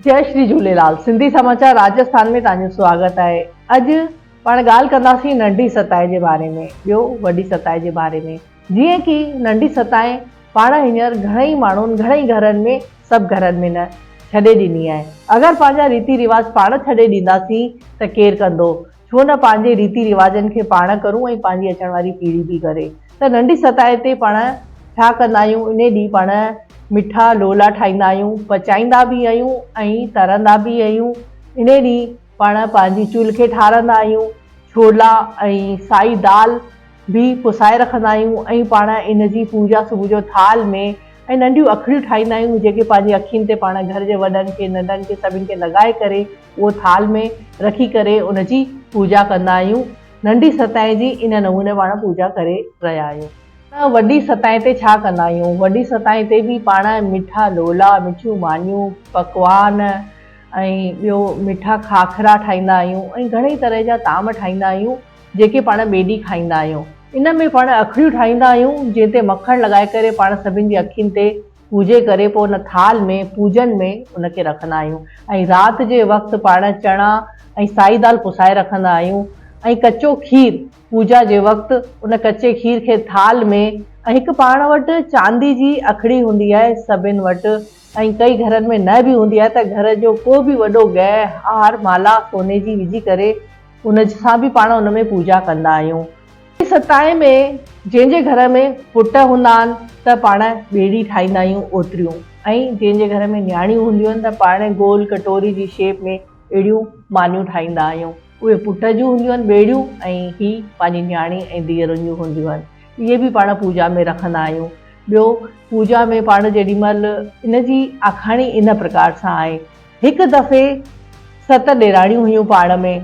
جئي شري جهوليلال سنڌي سماچار راجسٿان ۾ تهانجو سواگت آهي اڄ پاڻ ڳالهه ڪنداسين ننڍي ستائي جي باري ۾ ٻيو وڏي ستائي جي باري ۾ جيئن ڪي ننڍي ستائي پاڻ هينئر گهڻئي ماڻهن گهڻئي گهرن ۾ سڀ گهرن ۾ نه ڇڏي ڏني آهي اگر پنهنجا ريتي رواج پاڻ ڇڏي ڏينداسين ته ڪير ڪندو ڇو نه پنهنجي ريتي رواجن کي پاڻ ڪرون ۽ پنهنجي اچڻ واري پيڙهي به ڪري ته ننڍي سطح تي پاڻ ڇا ڪندا آهيون انهي ڏينهن پاڻ مٺا لولا ٺاهيندا آهيون پچائيندا به آهيون ۽ ترندا به آهيون انهي ڏينهن پاڻ پنهنجي چولهه کي ٺارندا آهيون ڇولا ۽ سائي دال به پسائي رکندا آهيون ۽ پاڻ ان جي پوڄا صبح جو ٿال ۾ ۽ ننڍيون اکڙيون ٺاهيندا آهيون جيڪي پنهنجي اکين تي پاڻ گهر جي وڏن کي ننڍن کي سڀن کي لڳائي ڪري اهو ٿال ۾ رکي ڪري ان جي پوڄا ڪندا آهيون. ننڍي ستائين جي ان نموني پاڻ پوڄا ڪري رهيا آهيون. ته وڏي ستائين تي ڇا ڪندا آهيون؟ وڏي ستائين تي به پاڻ مٺا لولا، مٺيون مانيون، پڪوان ۽ ٻيو مٺا کاکرا ٺاهيندا آهيون ۽ گهڻي طرح جا طعام ٺاهيندا آهيون جيڪي پاڻ ٻئي ڏينهن کائيندا آهيون. ان ۾ پاڻ اکڙيون ٺاهيندا آهيون جنهن تي مکڻ لڳائي ڪري پاڻ سڀن جي اکين تي پوڄي ڪري پوء ان ٿال ۾ پوڄن ۾ ان کي رکندا آهيون ۽ رات جي وقت پاڻ چڻا ۽ سائي دال پسائي رکندا آهيون ۽ ڪچو کير پوڄا جي وقت ان ڪچي کير کي ٿال ۾ ۽ هڪ پاڻ وٽ چاندي جي اکڙي هوندي آهي سڀن وٽ ۽ ڪئي گهرن ۾ نه به هوندي آهي ته گهر جو ڪو به وڏو گهه هار مالا سوني جي وجهي ڪري ان سان به پاڻ ان ۾ پوڄا ڪندا آهيون. ستائين ۾ جنهن جي گهر ۾ پٽ هوندا آهن ته پاڻ ٻيڙي ٺاهيندا آهيون اوتريون ۽ جنهن جي گهر ۾ نياڻيون هونديون آهن ته پاڻ گول ڪٽوري جي شيپ ۾ اهڙيون مانيون ٺاهيندا آهيون اهي پٽ جون هونديون آهن ٻيڙيون ۽ هي پنهنجي نياڻي ۽ ڌيئرن جون هونديون آهن اهي به پاڻ پوڄا ۾ رکندا آهيون ٻيو پوڄا ۾ پاڻ جيڏي مهل ان جي آکاڻي ان پرڪار سان آهي. هڪ دفعي ست ڏيراڻيون هيون پاڻ ۾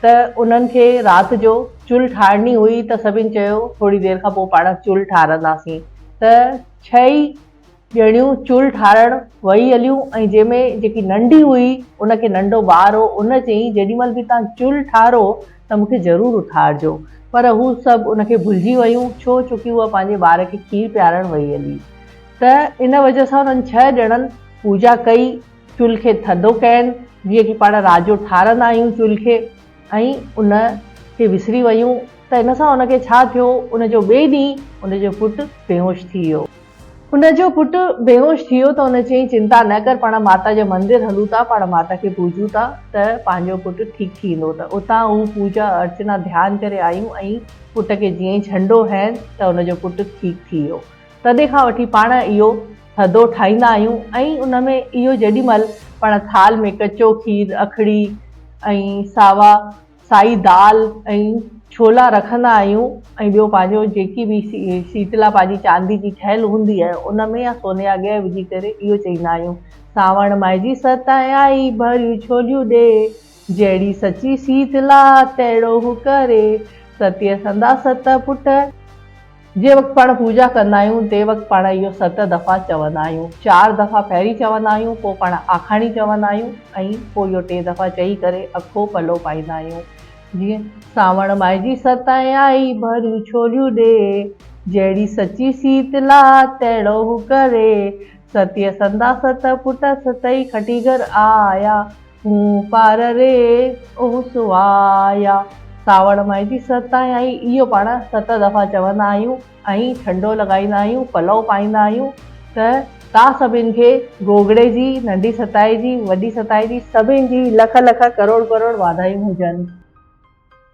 ته انهن کي رات جو چلهه ٺاهڻي هئي ته سڀن چيو ٿوري دير کان پوء پاڻ چلهه ٺاهرنداسين ته ڇهه ئي ڄڻيون چلهه ٺاهڻ وئي هليون ۽ جنهن ۾ جيڪي ننڍي هئي ان کي ننڍو ٻار هو ان چيائين جيڏي مهل به توهان چلهه ٺاهرو ته مون کي ضرور اٿارجو پر هو سڀ ان کي ڀلجي ويون ڇو چونڪه اها پنهنجي ٻار کي کير پيارڻ وئي هلي ته ان وجه سان انهن ڇهه ڄڻن پوڄا ڪئي، چلهه کي ٿڌو ڪين، جيئن ڪي پاڻ راڄو ٺارندا آهيون چلهه کي ۽ ان کي وسري ويون ته ان سان ان کي ڇا ٿيو، ان جو ٻئي ڏينهن ان جو پٽ بيهوش ٿي ويو. ان جو پٽ بيهوش ٿي ويو ته ان چيائين چنتا نه ڪر پاڻ ماتا جي مندر هلون ٿا، پاڻ ماتا کي پوڄون ٿا ته پنهنجو پٽ ٺيڪ ٿي ويندو ته اتان هو پوڄا ارچنا ڌيان ڪري آيون ۽ پٽ کي جيئن ئي ڇنڊو هنئين ته ان جو پٽ ٺيڪ ٿي ويو. تڏهن کان وٺي پاڻ اهو ٿڌو ٺاهيندا آهيون ۽ ان ۾ اهو جيڏي مهل پڻ ٿالهه ۾ ڪچو کير، اکڙي ۽ ساوا سائي دال ۽ ڇولا رکندا آهيون ۽ ٻيو پنهنجو جيڪي به سيتلا پنهنجي چاندي جي ٺهيل هوندي آهي ان ۾ يا سوني يا گيهه وجهي ڪري اهو چئيندا آهيون، سانوڻ مائجي ستائين آئي، ڀريون ڇوليون ڏي، جهڙي سچي سيتلا تهڙو هو ڪري، ستيء سنداسته پٽ. جنهن وقت پاڻ پوڄا ڪندا آهيون تنهن وقت پاڻ اهو ست دفعا چوندا آهيون. چار دفعا پهرين چوندا آهيون، پوء پاڻ آکاڻي چوندا آهيون ۽ پوء اهو ٽي دفعا چئي ڪري اکو پلو پائيندا آهيون. جيئن، سانوڻ ماهه جي ستائين آئي، ڀريون ڇوليون ڏي، جهڙي سچي سيت لا، تهڙو هو ڪري، ستيء سندا ست پٽ، ستئي کٽي گهر آيا. مون پار ري او سوايا. ساوڻ مئي جي ست آهي ۽ اهو پاڻ ست دفعا چوندا آهيون ۽ ٺنڊو لڳائيندا آهيون، پلئو پائيندا آهيون ته تان سڀني کي گوگڙي جي، ننڍي ستائي جي، وڏي ستائي جي سڀني جي لک لک ڪروڙ ڪروڙ واڌايون هجن.